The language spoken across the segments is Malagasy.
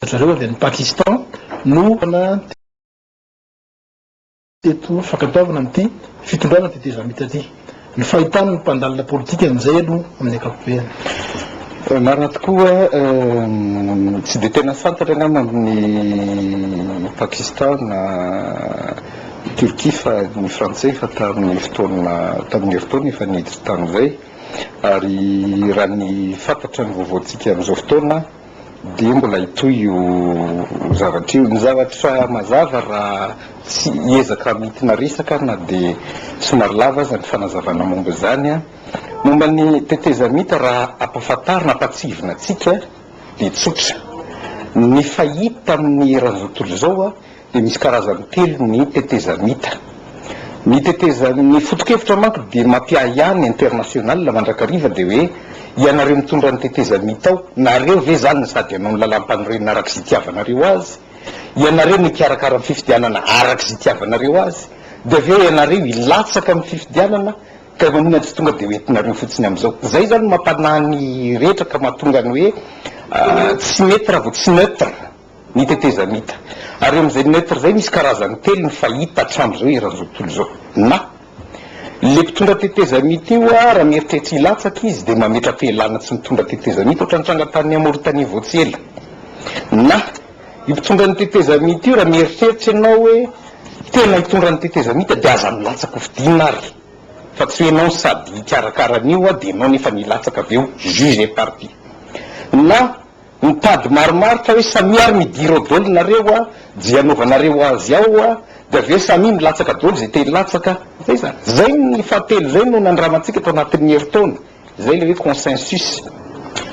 zareo avy any Pakistan no nandeha teto fankatoavana amin'ity fitondrana anti-Dezamita ity. Ny fahitana ny mpandalina politika amin'izay aloha amin'ny ankapobeny. Marina tokoa, tsy dia tena fantatra angamba amin'ny Pakistan na Turquie fa ny Frantsay efa tamin'ny fotoana tamin'ny herintaona efa niditra tany izay. Ary raha ny fantatra ny vaovaontsika amin'izao fotoana dia mbola hitohy io zavatra io. Ny zavatra mazava raha tsy hiezaka hamintina resaka na dia somary lava aza ny fanazavana momba izany, momba ny tetezamita raha ampahafantarina, ampahatsihivina antsika dia tsotra. Ny fahita amin'ny eran'izao tontolo izao. dia misy karazany telo ny tetezamita. Ny tetezan ny fotokevitra manko dia mampiahiahy ny international mandrakariva dia hoe ianareo mitondra ny tetezamita ao nareo ve zany no sady hanao ny lalampanorenana araka izay itiavanareo azy? ianareo no hikarakara ny fifidianana araka izay itiavanareo azy? dia avy eo ianareo hilatsaka amin'ny fifidianana ka maninona tsy tonga dia ho entinareo fotsiny amin'izao? zay zany no mampanahy ny rehetra ka mahatonga ny hoe tsy mety raha vao tsy neutre. ny tetezamita. Ary eo amin'izay neutre izay misy karazany telo ny fahita hatramin'izao eran'izao tontolo izao. Na. Ilay mpitondra tetezamita io raha mieritreritra hilatsaka izy dia mametra-pialana tsy mitondra tetezamita ohatra ny tranga tanin'i Maoritania vao tsy ela. Na. Io mpitondra ny tetezamita io raha mieritreritra ianao hoe tena hitondra ny tetezamita dia aza milatsaka hofidiana ary fa tsy hoe ianao sady hikarakara an'io dia ianao nefa ny hilatsaka avy eo juge et partie. Na. Mitady maromaro fa hoe samia ary midira ao dol nareo a, je anaovanareo azy ao a, de avy eo samia milatsaka dol ze te hilatsaka, zay zany. Zay ny fahatelo zay no nandramantsika tao anatin'ny herintaona, zay le hoe consensus,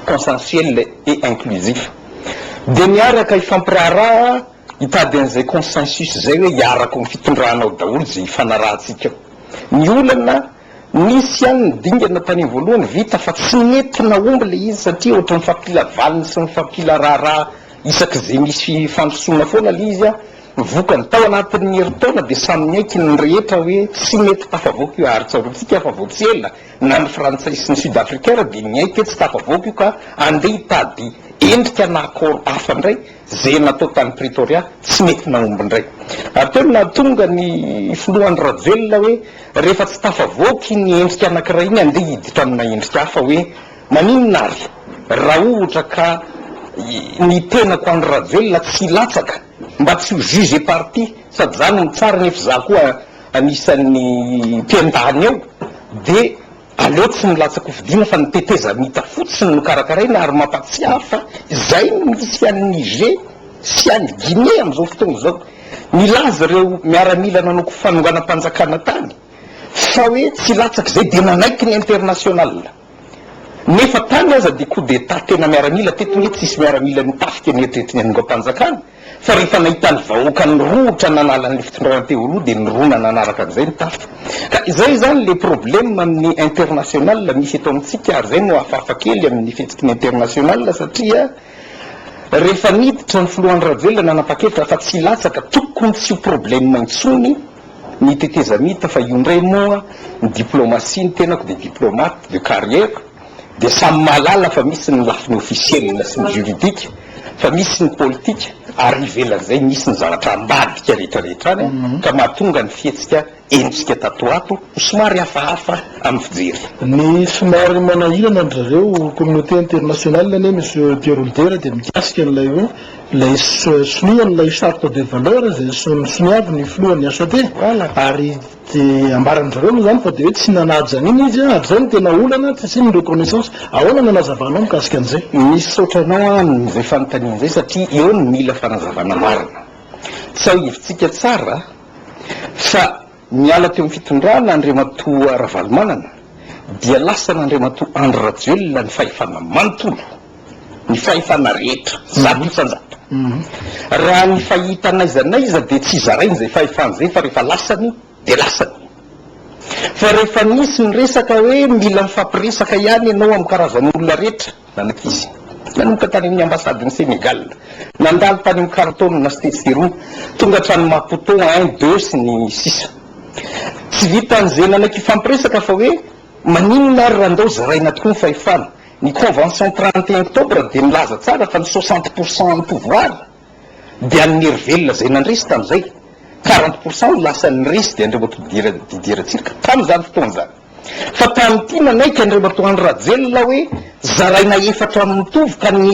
consensuel et inclusif. De miaraka hifampiraharaha hitady an'izay consensus zay hoe hiaraka ao amin'ny fitondrana ao daholo ze hifanarahantsika ao. Ny olana Nisy ihany ny dingana tany amin'ny voalohany vita fa tsy nety nahomby ilay izy satria ohatran'ny fampila valiny sy ny fampila raharaha isak'izay misy fandrosoana foana ilay izy an! Ny vokany, tao anatin'ny herintaona dia samy niaiky ny rehetra hoe tsy mety tafavoaka io ary tsaroantsika fa vao tsy ela na ny frantsay sy ny sud africain ary dia niaiky hoe tsy tafavoaka io ka andeha hitady endrika na accord hafa indray Ze natao tany Pretoria tsy mety nahomby ndray. Ary teo no nahatonga ny filoha Andry Rajoelina hoe rehefa tsy tafavoaka iny endrika anakiray iny andeha hiditra amina endrika hafa hoe maninona ary raha ohtra ka ny tenako Andry Rajoelina tsy hilatsaka mba tsy ho juge parti sady za no mitsara nefa za koa anisan'ny mpiandany ao dia Aleo tsy milatsa-kofidina fa ny tetezamita fotsiny no karakaraina ary mampatsiahy fa izay no misy any Niger sy any Guinée amin'izao fotoana izao. Nilaza ireo miaramila nanao fanonganam-panjakana tany fa hoe tsy latsaka izay dia nanaiky ny international nefa tany aza dia coup d'etat tena miaramila teto nge tsisy miaramila nitafika ny eritreritry ny hanongam-panjakana. Fa rehefa nahita ny vahoaka nirohotra nanala an'ilay fitondrana teo aloha dia nirona nanaraka an'izay ny tafika. Ka izay izany ilay problème amin'ny international misy eto amintsika ary izay no hafahafa kely amin'ny fihetsiky ny international satria rehefa niditra ny filoha Andry Rajoelina nanapa-kevitra fa tsy hilatsaka tokony tsy ho problème intsony ny tetezamita fa io indray moa ny diplomatie ny tenako dia diplomate de carrière dia samy mahalala fa misy ny lafiny ofisielina sy ny juridika, fa misy ny politika, ary ivelan'izay misy ny zavatra ambadika rehetra rehetra any, ka mahatonga ny fihetsika henontsika tato ho ato ho somary hafahafa amin'ny fijery. Ny somary manahirana an-dry zareo communauté internationale anie Monsieur Pierre Olivera dia mikasika an'ilay hoe ilay sonia an'ilay charte des valeurs izay soniavin' ny filohan'ny HCT ary Dia ambaran-dry zareo moa izany fa dia hoe tsy nanaja an'iny izy an, ary izay no tena olana, tsy asiany reconnaissance. Ahoana ny hanazavanao mikasika an'izay? Misaotra anao amin'izay fanontaniana izay satria eo no mila fanazavana marina. Tsiahivitsika tsara fa niala teo amin'ny fitondrana Andriamatoa Ravalomanana dia lasan'Andriamatoa Andry Rajoelina ny fahefana manontolo. ny fahefana rehetra, zato isan-jato. Raha ny fahita n'aiza n'aiza dia tsy zarainy izay fahefana izay fa rehefa lasany dia lasany. Fa rehefa nisy ny resaka hoe mila mifampiresaka ihany ianao amin'ny karazan'olona rehetra, nanak'izy. Nanomboka tany amin'ny ambasadin'i Sénégal, nandalo tany amin'ny Khartoum na Stetshirou, tonga hatrany Maputo, un, deux sy ny sisa. Tsy vitan'izay nanaiky hifampiresaka fa hoe maninona ary raha ndao zaraina tokoa ny fahefana, Ny convention trente et un octobre dia milaza tsara fa ny soixante pour cent an'ny pouvoir dia an'ny herivelona izay nandresy tamin'izay, quarante pour cent no lasan'ny resy dia an'ireo Didier Didier Ratsiraka tamin'izany fotoana izany. Fa tamin'ity manaiky an'ireo matoa andry Rajoelina hoe zaraina efatra mitovy ka ny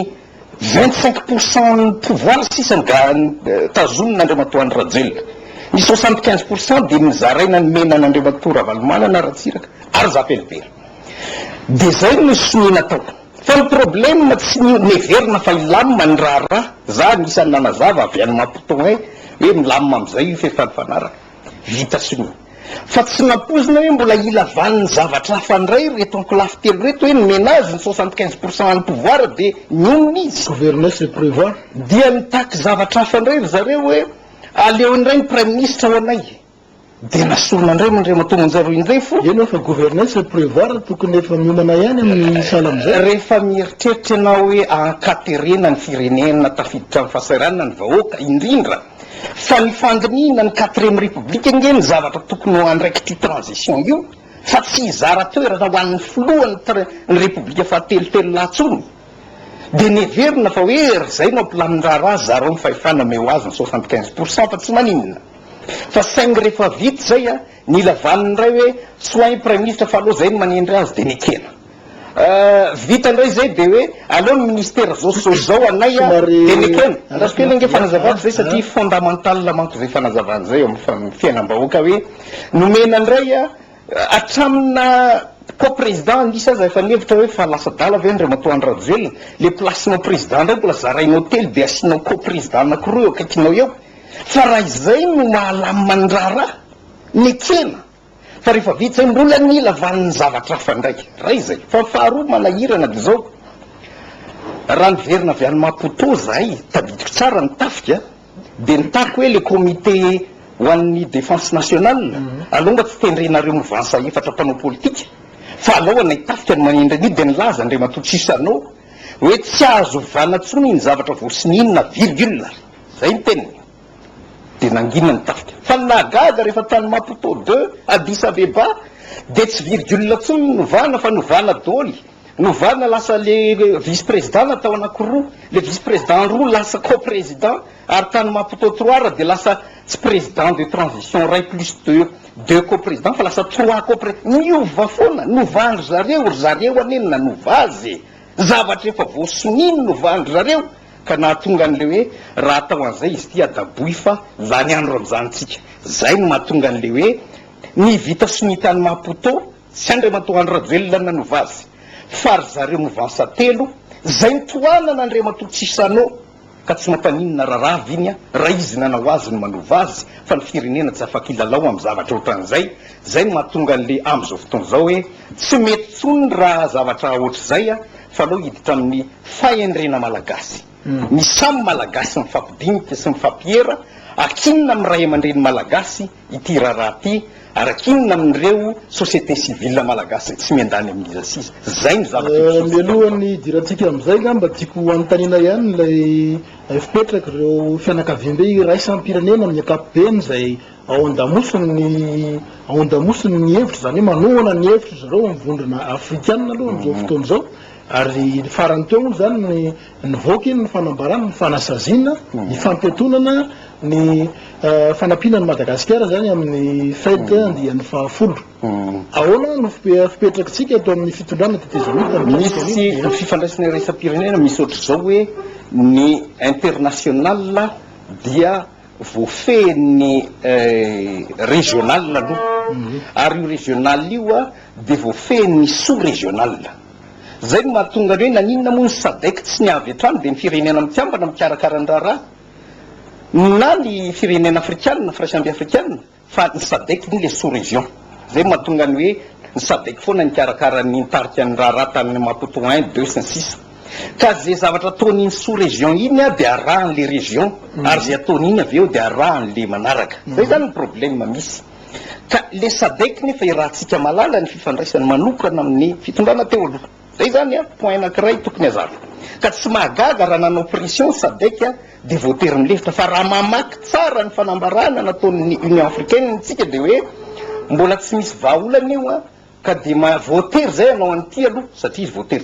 Vingt cinq pour cent ny pouvoir sisa no tazonin' Andriamatoa Andry Rajoelina. Ny soixante quinze pour cent dia nozaraina nomena an' Andriamatoa Ravalomanana Ratsiraka ary za velively. Dia zay no sonia natao. Fa ny problème tsy ny neverina fa hilamina ny raharaha. Za anisan' ny nanazava avy any Maputo any hoe milamina amizay io fa efa nifanaraka. Vita sonia. Fa tsy nampoizina hoe mbola ilavan'ny zavatra hafa indray ireto ankolafy telo ireto hoe ny menage ny soixante quinze pour cent any pouvoir dia nionona izy. Gouverner c'est prevoir. Dia nitaky zavatra hafa indray ry zareo hoe aleo indray ny praiminisitra ho anay. Dia nasorina indray moa Andriamatoa Monja roa indray fo. Eny fa gouverner c'est prevoir tokony efa miomana ihany amin'ny sahala amin'izay. Rehefa mieritreritra ianao hoe ahankaterena ny firenena tafiditra amin'ny fahasahiranana ny vahoaka indrindra. Fa ny fandinihina ny quatrième république ange ny zavatra tokony ho andraikitry transition io fa tsy hizara toerana ho an'ny filoha ny tr ny république fahatelo telo lahy tsony dia neverina fa hoe ry zay no ampilamin'ny raharaha zarao ny fahefana omeo azy ny soixante quinze pour cent fa tsy maninona fa saingy rehefa vita izay an nila vaniny indray hoe tsy ho hay ny praiminisitra fa aleo zay no manendry azy dia nekena Ahh vita ndray zay de hoe aleo ny ministera zao so zao anay a de nekena andraso kely ange fanazavako zay satria fondamental manko zay fanazavana zay eo am fa fiainam bahoaka hoe nomena ndray a atraminy naha ko president an'isa aza efa nihevitra hoe fa lasa adala ve andriamatoa andry rajoelina le place nao president ndray mbola zarainao telo de asianao ko president anaky roa eo akaikinao eo fa raha izay no mahalamina ny raharaha nekena Fa rehefa vita izay mbola nila valin'ny zavatra hafa indray. Iray izay. Fa ny faharoa manahirana dia izao, raha niverina avy any Maputo izahay, tadidiko tsara ny tafika, dia nitaky hoe ilay comité ho an'ny défense nationale, alao mba tsy tendrenareo movansa efatra mpanao politika, fa alao anay tafika no manendry an'io, dia nilaza Andriamatoa Chissano hoe tsy azo ovana intsony iny zavatra vao sinina, virgule, izay ny teniny. dia nangina ny tafika. Fa ny nahagaga rehefa tany Maputo deux, Addis Abeba, dia tsy virgule intsony no novana fa novana doly, novana lasa le vice président natao anakiroa, le vice président roa lasa co-président, ary tany Maputo trois dia lasa tsy président de transition iray plus deux, deux co-président fa lasa trois co-président, miova foana, novan'ry zareo, ry zareo anie no nanova azy e! Zavatra efa voasonino no voan-dry zareo ka nahatonga an'ilay hoe raha atao an'izay izy ity adaboy fa lany andro amin'izanyntsika. Izay no mahatonga an'ilay hoe ny vita sonia tany Maputo, tsy Andriamatoa Andry Rajoelina no nanova azy fa ry zareo movansa telo izay notohanana Andriamatoa Chissano, Ka tsy mampaninona raharaha ve ny ahy raha izy nanao azy no manova azy fa ny firenena tsy afaka hilalao amin'ny zavatra ohatran'izay? Izay no mahatonga an'le amin'izao fotoana izao hoe tsy mety intsony raha zavatra ohatr'izay a! Fa aleo hiditra amin'ny fahendrena malagasy. Ny samy malagasy mifampidinika sy mifampiera, akinona amin'ny ray aman-dreny malagasy ity raharaha ity araka inona amin'ireo société civile malagasy tsy miandany amin'iza sy iza. Izay no zavatra ipsihotsika aminao. Mialohan'ny hidirantsika amin'izay angamba tiako hanontaniana ihany ilay fipetraky ireo fianakaviambe iraisam-pirenena amin'ny ankapobeny izay ao an-damosin'ny ao an-damosiny ny hevitra, izany hoe manohana ny hevitry zareo ny vondrona afrikana aloha amin'izao fotoana izao ary farany teo moa izany ny Nivoaka iny ny fanambarana, ny fanasaziana, ny fampiatonana, ny fanampiana an'i Madagasikara izany amin'ny fête andiany fahafolo. Ahoana no fipetrakintsika eto amin'ny fitondrana tetezamita? Misy ny fifandraisana iraisam-pirenena, misy ohatr'izao hoe ny international dia voafehin'ny regional aloha, ary io regional io dia voafehin'ny sous-regional. Izay no mahatonga ny hoe naninona moa ny Sadec tsy ny avy hatrany dia ny firenena mikambana mikarakara ny raharaha na ny firenena afrikanina, firaisambe afrikanina fa ny Sadec moa ilay sous région. Izay no mahatonga ny hoe ny Sadec foana nikarakara ny nitarika ny raharaha tany Maputo un, deux, sy ny sisa Ka izay zavatra ataon'iny sous région iny dia arahan'ilay région ary izay ataon'iny avy eo dia arahan'ilay manaraka. Izay izany ny problème misy. Ka lesa baiky nefa i Ratsika Malala ny fifandraisany manokana amin'ny fitondrana teo aloha. Zay izany an, point anankiray tokony hazava. Ka tsy mahagaga raha nanao pression Sadec dia voatery nilefitra. Fa raha mamaky tsara ny fanambarana nataon'ny Union Africaine isika dia hoe mbola tsy misy vahaolana io an, ka dia ma-voatery izay hanao an'ity aloha satria izy voatery tsy.